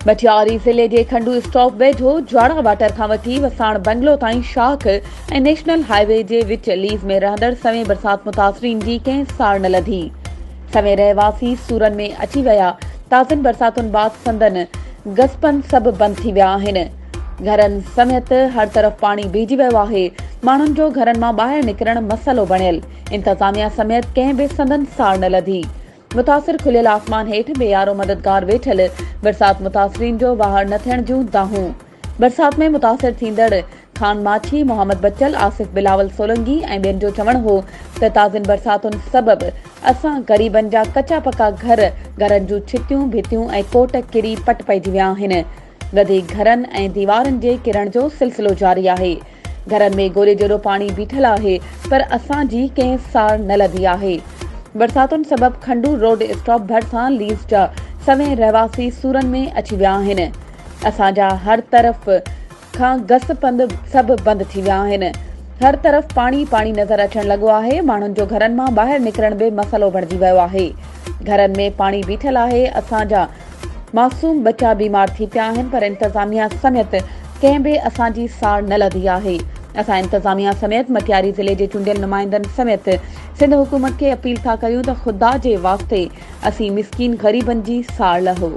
مٽياري ضلعي جي کنڊو اسٽاپ ويجهو جواڙا واٽر کان وٺي وساڻ بنگلو تائين شاخ ۽ نيشنل هاء وي جي وچ ليز ۾ رهندڙ سوين برسات متاثرين جي ڪنهن ساڙ نه لڌي. سوين رهواسي سورن ۾ اچي ويا، تازين برساتن بعد سندن گسپن سڀ بند ٿي ويا آهن. گهرن سميت هر طرف پاڻي بيهجي ويو آهي، ماڻهن جو گهرن مان ٻاهر نڪرڻ مسئلو بڻيل، انتظاميا سميت ڪنهن به سندن ساڙ نه لڌي، متاثر کليل آسمان هيٺ بي يارو مددگار ويٺل، برسات متاثرين جو واهڙ نه ٿيڻ جون دانهون، برسات ۾ متاثر ٿيندڙ خان ماڇي، محمد بچل، آصف بلاول سولنگي ۽ ٻين جو چوڻ هو ته تازين برساتن سبب اسان غريبن جا ڪچا پڪا گهر، گهرن جون ڇتيون، ڀتيون ۽ ڪوٽ ڪري پٽ پئجي ويا آهن، گدي گهرن ۽ ديوارن جي ڪرڻ جو سلسلو جاري آهي. گهرن ۾ گولي جيڏو پاڻي بيٺل آهي پر اسان جي ڪنهن ساڙ نه لڌي آهي. برساتن سبب کنڊو روڊ اسٽاپ ڀرسان ليز جا سوين رهواسي سورن ۾ اچي ويا آهن. اسان جا هر طرف کان گس پنڌ سڀ بند ٿي ويا آهن. هر طرف پاڻي پاڻي نظر اچڻ لڳو آهي. ماڻهن جو گهرن مان ٻاهر نڪرڻ به مسئلو بڻجي ويو آهي. گهرن ۾ پاڻي بيٺل آهي. اسان جا معصوم ٻچا بيمار ٿي پيا آهن پر انتظاميا سميت ڪنهن به اسان جي ساڙ نه لڌي آهي اسان انتظاميا سميت مٽياري ضلعي جي چونڊيل نمائندن سميت سنڌ حڪومت کي اپيل ٿا ڪريون ته خدا جي واسطي اسين مسڪين غريبن جي ساڙ لهو.